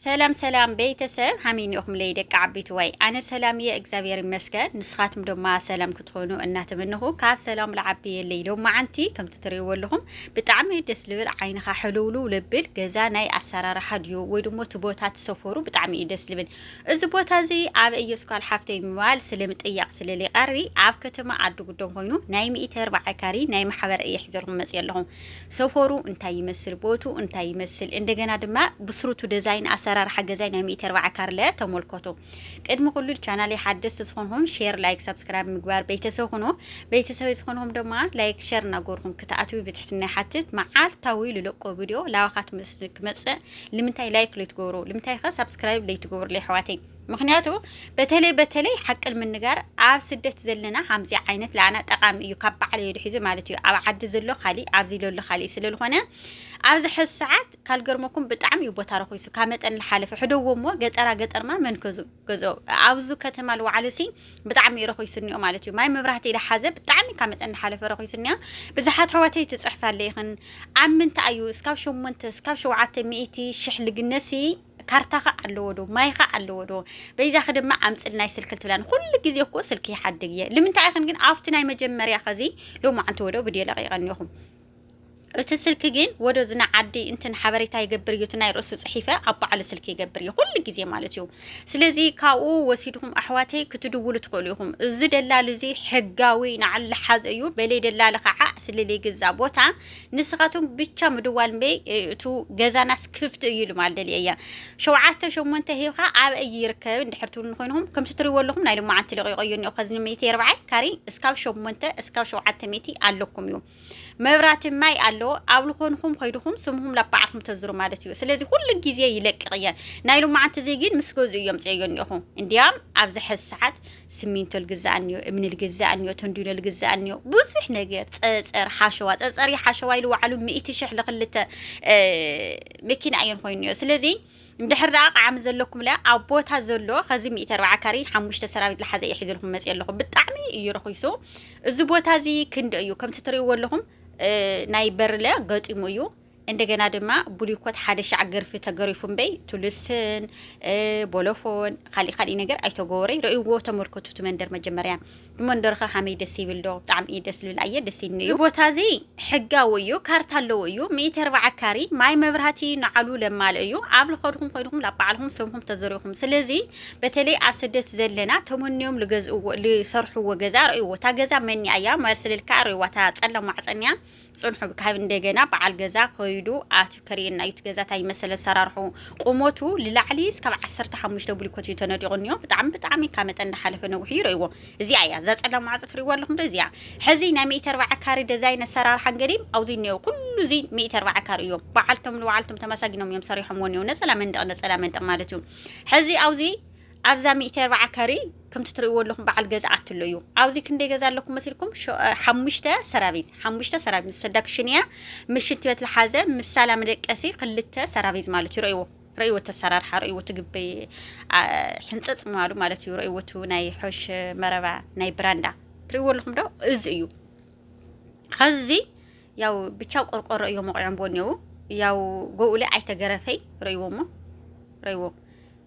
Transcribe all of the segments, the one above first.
ሰላም ሰላም ቤተሰብ ሃመይ ኢኹምለይ ደቂ ዓቢትዋይ ኣነ ሰላም እየ እግዚኣብሔር ይመስገን ንስኻትኩም ድማ ሰላም ክትኾኑ እናተመንኹ ካብ ሰላም ልዓብየለይ ሎማዓንቲ ከምቲ ትርእይዎ ኣለኹም ብጣዕሚ ደስ ልብል ዓይንኻ ሕልውልው ልብል ገዛ ናይ ኣሰራርሓ ድዩ ወይ ድሞ እቲ ቦታ ትሰፈሩ ብጣዕሚ እዩ ደስ ልብል እዚ ቦታ እዚ ኣብ እየስኳል ሓፍተይ ምባል ስለምጥያቕ ስለሊቐሪ ኣብ ከተማ ዓዲ ጉዶም ኮይኑ ናይ ሚእቲ ኣርባዓ ካሪ ናይ ማሕበር እየ ሒዘልኩም መፅእ ኣለኹም ሰፈሩ እንታይ ይመስል ቦቱ እንታይ ይመስል እንደገና ድማ ብስሩቱ ደዛይን ኣሰራርሓ ገዛይ ናይ ሚእቲ ኣርባዓ ካርለ ተመልከቱ ቅድሚ ኩሉ ቻናል ሓደስ ዝኾንኹም ሼር ላይክ ሰብስክራይብ ምግባር ቤተሰብ ሁኑ ቤተሰብ ዝኾንኹም ድማ ላይክ ሸር እናጎርኩም ክትኣትዊ ብትሕትና ሓትት መዓልታዊ ልለቆ ቪድዮ ላዋኻት ክመፅእ ልምንታይ ላይክ ለይትገብሩ ልምንታይ ከ ሰብስክራይብ ለይትገብሩ ለይሕዋተይ ምክንያቱ በተለይ በተለይ ሓቂ ንምንጋር ኣብ ስደት ዘለና ከምዚ ዓይነት ለዓና ጠቃሚ እዩ ካብ በዓል የዱ ሒዙ ማለት እዩ ኣብ ዓዲ ዘሎ ካሊእ ኣብዚ ዘሎ ካሊእ ስለዝኾነ ኣብዚ ሕዚ ሰዓት ካልገርመኩም ብጣዕሚ እዩ ቦታ ረኪሱ ካብ መጠን ዝሓለፈ ሕደዎ እሞ ገጠራ ገጠርማ መን ከዙ ገዞ ኣብዚ ከተማ ልወዓሉ ሲ ብጣዕሚ እዩ ረኪሱ እኒኦ ማለት እዩ ማይ መብራህቲ ዝሓዘ ብጣዕሚ ካብ መጠን ዝሓለፈ ረኪሱ እኒኦ ብዙሓት ሕዋተይ ትፅሕፋለ ይኽን ኣብ ምንታይ እዩ እስካብ ሸሞንተ እስካብ ሸውዓተ ሚእቲ ሽሕ ልግነሲ ካርታኺ ኣለዎ ዶ ማይኺ ኣለዎ ዶ በይዛኺ ድማ ኣምፅል ናይ ስልኪ ትብላን ኩሉ ግዜ እኮ ስልኪ ይሓድግ እየ ልምንታይ ኢኽን ግን ኣብቲ ናይ መጀመርያ ከዚ ሎማዓንቲ ወዶ ብድዮ ለቂቐኒኹም እቲ ስልኪ ግን ወደ ዝና ዓዲ እንትን ሓበሬታ ይገብር እዩ እቲ ናይ ርእሱ ፅሒፈ ኣብ በዓሉ ስልኪ ይገብር እዩ ኩሉ ግዜ ማለት እዩ ስለዚ ካብኡ ወሲድኩም ኣሕዋተይ ክትድውሉ ትኽእሉ ኢኹም እዚ ደላሉ እዚ ሕጋዊ ንዓሉ ሓዝ እዩ በለይ ደላሊ ከዓ ስለለይ ግዛ ቦታ ንስኻትኩም ብቻ ምድዋል እምበይ እቱ ገዛናስ ክፍቲ እዩ ኢሉ ማለት ደልየ እያ ሸውዓተ ሸሞንተ ሂብካ ኣብ እዩ ይርከብ እንድሕር ትብሉ ንኮይንኹም ከምቲ ትሪእዎ ኣለኹም ናይ ልማዓንቲ ለቂቆ እዩ እኒኦ ከዚ ንሚእቲ የርብዓይ ካሪ እስካብ ሸሞንተ እስካብ ሸውዓተ ሚእቲ ኣለኩም እዩ መብራቲ ማይ ኣለዎ ኣብ ልኾንኹም ኮይድኹም ስምኹም ላብ በዓልኩም ተዝሩ ማለት እዩ ስለዚ ኩሉ ግዜ ይለቅቕ እየን ናይ ልማዓንቲ እዚ ግን ምስ ገዝኡ እዮም ፅየዮ እኒኦኹ እንዲያም ኣብዚ ሕዚ ሰዓት ስሚንቶ ልግዛእ እንዮ እምኒ ልግዛእ እንዮ ተንዲኖ ልግዛእ እንዮ ብዙሕ ነገር ፀፀር ሓሸዋ ፀፀር ሓሸዋ ኢሉ ዋዕሉ ሚእቲ ሽሕ ልክልተ መኪና እየን ኮይኑ እዮ ስለዚ እንድሕር ደኣ ቃዕሚ ዘለኩም ለ ኣብ ቦታ ዘሎ ከዚ ሚእቲ ኣርባዓ ካሪ ሓሙሽተ ሰራዊት ልሓዘ እዩ ሒዝልኩም መፅ ኣለኹ ብጣዕሚ እዩ ረኺሱ እዚ ቦታ እዚ ክንዲ እዩ ከምቲ ትሪእዎ ኣለኹም ናይ በርለ ገጢሙ እዩ እንደገና ድማ ብሉይኮት ሓደ ሻዕ ገርፊ ተገሪፉ እምበይ ቱልስን ቦሎፎን ካሊእ ካሊእ ነገር ኣይተገበረይ ረእይዎ ተመልከቱ እቲ መንደር መጀመርያ ንመንደርኸ ሃመይ ደስ ይብል ዶ ብጣዕሚ እዩ ደስ ዝብል ኣየ ደስ ይብኒ እዩ እዚ ቦታ እዚ ሕጋዊ እዩ ካርታ ኣለዎ እዩ ሚእቲ ኣርባዓ ካሪ ማይ መብራህቲ ንዓሉ ለማልእ እዩ ኣብ ልኸድኹም ኮይንኹም ላብ ባዕልኹም ሰምኹም ተዘሪኹም ስለዚ በተለይ ኣብ ስደት ዘለና ተመንዮም ልገዝእዎ ልሰርሕዎ ገዛ ረእይዎ እታ ገዛ መኒ ኣያ መልስልልካ ረእይዋ እታ ፀላም ማዕፀን እያ ጽንሑ ካብ እንደገና በዓል ገዛ ከይዱ ኣትዩ ከርእየና እዩ እቲ ገዛ እንታይ ይመስል ኣሰራርሑ ቁመቱ ልላዕሊ እስካብ ዓሰርተ ሓሙሽተ ብሊኮት እዩ ተነዲቑ እኒኦ ብጣዕሚ ብጣዕሚ ካብ መጠን እንዳሓለፈ ነዊሕ እዩ ይርእይዎ እዚኣ እያ እዛ ጸላም ማዕጾ ትርእይዎ ኣለኹም ዶ እዚኣ ሕዚ ናይ ሚእቲ ኣርባዓ ካሪ ደዛይን ኣሰራርሓን ገዲም ኣብዚ እኒኦ ኩሉ እዚ ሚእቲ ኣርባዓ ካሪ እዩ በዓልቶም ንበዓልቶም ተመሳጊኖም እዮም ሰሪሖምዎ እኒኦ ነጸላ መንደቕ ነጸላ መንደቕ ማለት እዩ ሕዚ ኣብዚ ኣብዛ ሚእቲ ኣርብዓ ካሬ ከምቲ ትርእይዎ ኣለኹም በዓል ገዛ ኣትሎ እዩ ኣብዚ ክንደይ ገዛ ኣለኩም መሲልኩም ሓሙሽተ ሰራቪዝ ሓሙሽተ ሰራቪዝ ሰዳ ክሽን እያ ምስ ሽንቲ ቤት ዝሓዘ ምስ ሳላ መደቀሲ ክልተ ሰራቪዝ ማለት እዩ ረእይዎ ረእይዎ ተሰራርሓ ረእይዎ ትግቢ ሕንፀፅ ምባሉ ማለት እዩ ረእይዎ ናይ ሖሽ መረባ ናይ ብራንዳ ትርእይዎ ኣለኹም ዶ እዚ እዩ ኸዚ ያው ብቻ ቆርቆሮ እዮ መቑዖም ቦ እኔው ያው ጎኡለ ኣይተገረፈይ ረእይዎ እሞ ረእይዎ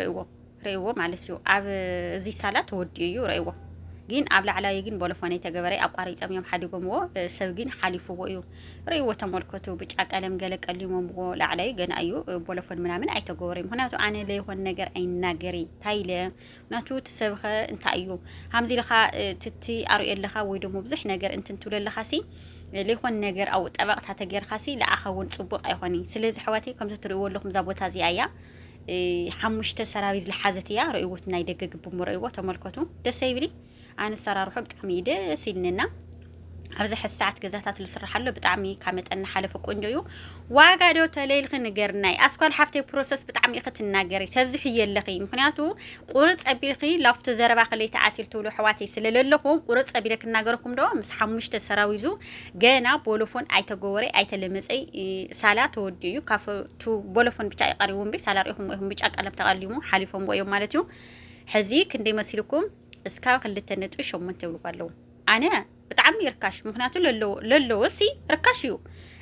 ረእዎ ረእዎ ማለት እዩ ኣብ እዚ ሳላ ተወዲኡ እዩ ረእዎ ግን ኣብ ላዕላዊ ግን ቦሎፎነ ተገበረ ኣቋሪፆም እዮም ሓዲጎምዎ ሰብ ግን ሓሊፍዎ እዩ ረእዎ ተመልከቱ ብጫ ቀለም ገለ ቀሊሞምዎ ላዕላዊ ገና እዩ ቦሎፎን ምናምን ኣይተገበረዩ ምክንያቱ ኣነ ለይኮን ነገር ኣይናገሪ ታይለ ናቱ እቲ ሰብኸ እንታይ እዩ ሃምዚ ኢልኻ ትቲ ኣርእዮ ኣለኻ ወይ ደሞ ብዙሕ ነገር እንትን ትብሎ ኣለኻሲ ለይኮን ነገር ኣብኡ ጠበቕታ ተገይርካሲ ንዓኻ እውን ፅቡቕ ኣይኾን እዩ ስለዚ ኣሕዋተይ ከምዚ ትርእይዎ ኣለኹም እዛ ቦታ እዚኣ እያ ሓሙሽተ ሰራቢ ዝለሓዘት እያ ረእይዎት ናይ ደገ ግብሞ ረእይዎ ተመልከቱ ደስ ይብሊ ኣንሰራርሑ ብጣዕሚ እዩ ደስ ኢልንና ኣብዚ ሕዚ ሰዓት ገዛታት ዝስራሕ ኣሎ ብጣዕሚ ካብ መጠን ሓለፈ ቆንጆ እዩ ዋጋ ዶ ተለይልኺ ንገርናይ ኣስኳል ሓፍተይ ፕሮሰስ ብጣዕሚ ኢኺ ትናገሪ ተብዝሕዮ ኣለኺ ምክንያቱ ቁርፅ ኣቢልኺ ላፍቶ ዘረባ ከለይ ተኣትል ትብሉ ኣሕዋተይ ስለ ዘለኹ ቁርፅ ኣቢለ ክናገረኩም ዶ ምስ ሓሙሽተ ሰራዊዙ ገና ቦሎፎን ኣይተገወረ ኣይተለመፀይ ሳላ ተወዲኡ እዩ ካብቱ ቦሎፎን ብቻ ይቀሪቡ እምበይ ሳላ ሪኢኹም ኢኹም ብጫ ቀለም ተቀሊሙ ሓሊፎም እዮም ማለት እዩ ሕዚ ክንደይ መሲልኩም እስካብ ክልተ ነጥቢ ሸሞንተ ይብልዎ ኣለዉ ኣነ ብጣዕሚ ርካሽ ምክንያቱ ለለዎ ሲ ርካሽ እዩ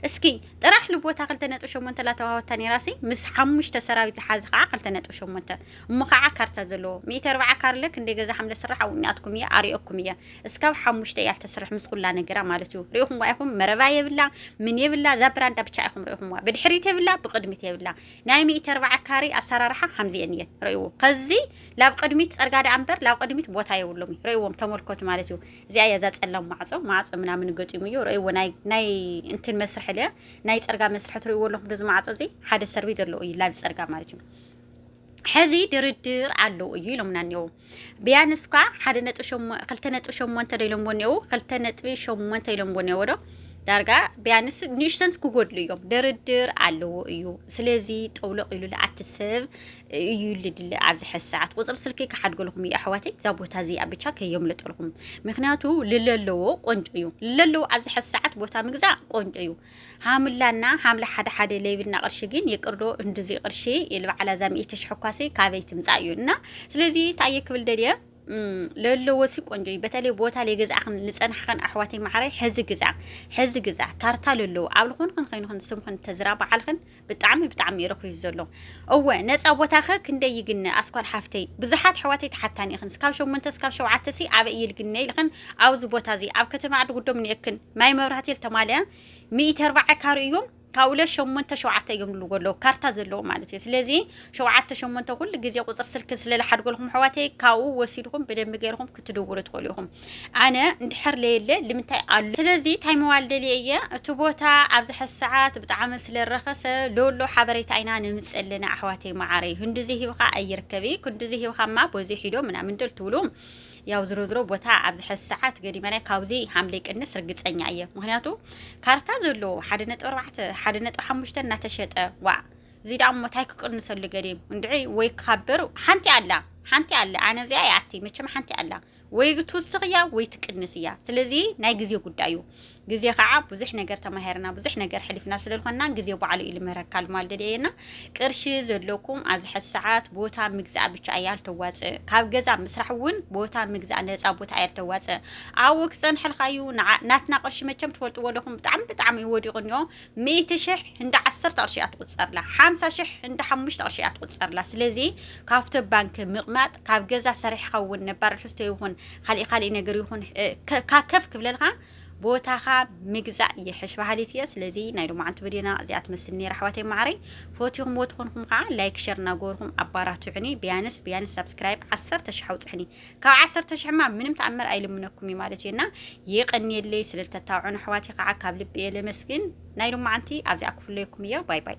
እስኪ ጥራሕ ልቦታ ክልተ ነጥቢ ሸሞንተ ላተዋሃወታ ነራ ሲ ምስ ሓሙሽተ ሰራዊት ዝሓዘ ከዓ ክልተ ነጥቢ ሸሞንተ እሞ ከዓ ካርታ ዘለዎ ሚእቲ ኣርባዓ ካርለ ክንደይ ገዛ ሓምለ ስራሕ ኣብኡኒኣትኩም እየ ኣሪኦኩም እየ እስካብ ሓሙሽተ እያ ልተስርሕ ምስ ኩላ ነገራ ማለት እዩ ሪኢኹምዋ ኢኹም መረባ የብላ ምን የብላ እዛ ብራንዳ ብቻ ኢኹም ሪኢኹምዋ ብድሕሪት የብላ ብቅድሚት የብላ ናይ ሚእቲ ኣርባዓ ካሬ ኣሰራርሓ ከምዚኤን እየን ረእዎ ከዚ ላብ ቅድሚት ፀርጋ ደኣ እምበር ላብ ቅድሚት ቦታ የብሎም እዩ ረእዎም ተመልከቱ ማለት እዩ እዚኣ እያ እዛ ፀላም ማዕፆ ማዕፆ ምናምን ገጢሙ እዩ ረእዎ ናይ ናይ እንትን መስርሒ ለ ናይ ፀርጋ መስርሒ ትርእዎ ኣለኹም ዶ ዝማዕፆ እዚ ሓደ ሰርቪ ዘለዎ እዩ ላብ ፀርጋ ማለት እዩ ሕዚ ድርድር ኣለዎ እዩ ኢሎምና እኒኦ ቢያንስ እኳ ሓደ ነጥቢ ሸሞ- ክልተ ነጥቢ ሸሞንተ ዶ ኢሎምዎ እኒአው ክልተ ነጥቢ ሸሞንተ ኢሎምዎ እኒአዎ ዶ ዳርጋ ቢያንስ ንእሽተንስ ክጎድሉ እዮም ድርድር ኣለዎ እዩ ስለዚ ጠውለቕ ኢሉ ልኣቲ ሰብ እዩ ልድለ ኣብዚ ሕዚ ሰዓት ቁፅሪ ስልኪ ክሓድገልኹም እዩ ኣሕዋተይ እዛ ቦታ እዚኣ ብቻ ከየምልጠልኹም ምክንያቱ ልለለዎ ቆንጆ እዩ ልለለዎ ኣብዚ ሕዚ ሰዓት ቦታ ምግዛእ ቆንጆ እዩ ሃምላና ሃምላ ሓደ ሓደ ለይብልና ቅርሺ ግን ይቅርዶ እንዱዚ ቅርሺ ኢል በዓላ እዛ ሚእቲ ሽሕ እኳሲ ካበይ ትምፃእ እዩ እና ስለዚ እንታይ እየ ክብል ደልየ ለለዎ ሲ ቆንጆ እዩ በተለይ ቦታ ለገዛእኽን ልፀናሕኽን ኣሕዋተይ ማዕረይ ሕዚ ግዛ ሕዚ ግዛ ካርታ ለለዎ ኣብ ልኾንኽን ኸይንኽን ስምኽን ተዝራ በዓልኽን ብጣዕሚ ብጣዕሚ ረኪዩ ዘሎ እወ ነፃ ቦታኸ ክንደይ ይግነ ኣስኳል ሓፍተይ ብዙሓት ኣሕዋተይ ተሓታኒ ኢኽን ስካብ ሸሞንተ ስካብ ሸውዓተ ሲ ኣበይ እዩ ልግነ ኢልኽን ኣብዚ ቦታ እዚ ኣብ ከተማ ዓዲ ጉዶም ንኤክን ማይ መብራህቲ ተማልያ ሚእቲ ኣርባዓ ካሪ እዮም ካብ ሁለት ሸሞንተ ሸውዓተ እዮም ልዎ ኣለዉ ካርታ ዘለዎ ማለት እዩ ስለዚ ሸውዓተ ሸሞንተ ኩሉ ግዜ ቁፅሪ ስልኪ ስለዝሓድጎልኩም ኣሕዋተይ ካብኡ ወሲድኩም ብደንቢ ገይርኩም ክትድውሉ ትኽእሉ ኢኹም ኣነ እንድሕር ለየለ ልምንታይ ኣሉ ስለዚ እንታይ ምባል ደልየ እየ እቲ ቦታ ኣብዚ ሕዚ ሰዓት ብጣዕሚ ስለ ረኸሰ ሎሎ ሓበሬታ ኢና ነምጽእ ኣለና ኣሕዋተይ መዓረይ ክንድዚ ሂብኻ ኣይርከቢ ክንድዚ ሂብኻ እማ በዚ ሒዶ ምናምን ደል ትብሉ ያው ዝሮ ዝሮ ቦታ ኣብዚ ሕዚ ሰዓት ገዲመናይ ካብዚ ሓምለ ቅንስ ርግፀኛ እየ ምክንያቱ ካርታ ዘለዎ ሓደ ነጥቢ ኣርባዕተ ሓደ ነጥቢ ሓሙሽተ እናተሸጠ ዋ እዚ ደኣ እሞ እንታይ ክቅንሰሉ ገዲም እንድዒ ወይ ክካበር ሓንቲ ኣላ ሓንቲ ኣላ ኣነ እዚኣ ይኣቲ መቸም ሓንቲ ኣላ ወይ ትውስኽ እያ ወይ ትቅንስ እያ። ስለዚ ናይ ግዜ ጉዳይ እዩ። ግዜ ከዓ ብዙሕ ነገር ተማሂርና ብዙሕ ነገር ሕሊፍና ስለዝኾንና ግዜ ባዕሉ እዩ ልምህረካ ልማል ደድየና ቅርሺ ዘለኩም ኣብዚ ሕዚ ሰዓት ቦታ ምግዛእ ብቻ እያ ልተዋፅእ ካብ ገዛ ምስራሕ እውን ቦታ ምግዛእ ነፃ ቦታ እያ ልተዋፅእ ኣብኡ ክፀንሐልካ እዩ ናትና ቅርሺ መቸም ትፈልጥዎ ኣለኹም ብጣዕሚ ብጣዕሚ እዩ ወዲቑ እኒኦ ሚእቲ ሽሕ እንዳ ዓሰርተ ቅርሺ እያ ትቑፀርላ ሓምሳ ሽሕ እንዳ ሓሙሽተ ቅርሺ እያ ትቑፀርላ ስለዚ ካብቶ ባንኪ ምቕማጥ ካብ ገዛ ሰሪሕኻ እውን ነባር ርሕስቶ ይኹን ካሊእ ካሊእ ነገር ይኹን ከፍ ክብለልካ ቦታኻ ምግዛእ ይሕሽ ባህሊት እየ ስለዚ ናይ ሎማዓንቲ ቪድዮና እዚኣ ትመስል ነራ ኣሕዋተይ ማዕረይ ፈትኹምዎ ትኾንኩም ከዓ ላይክ ሸር እናገበርኩም ኣባራትዑኒ ቢያንስ ቢያንስ ሳብስክራይብ ዓሰርተ ሽሕ ኣውፅሕኒ ካብ ዓሰርተ ሽሕ ማ ምንም ተኣምር ኣይልምነኩም እዩ ማለት እዩ እና የቀንየለይ ስለ ዝተታውዑን ኣሕዋት ከዓ ካብ ልቢ እየ ለመስግን ናይ ሎማዓንቲ ኣብዚኣ ክፍለየኩም እየ ባይ ባይ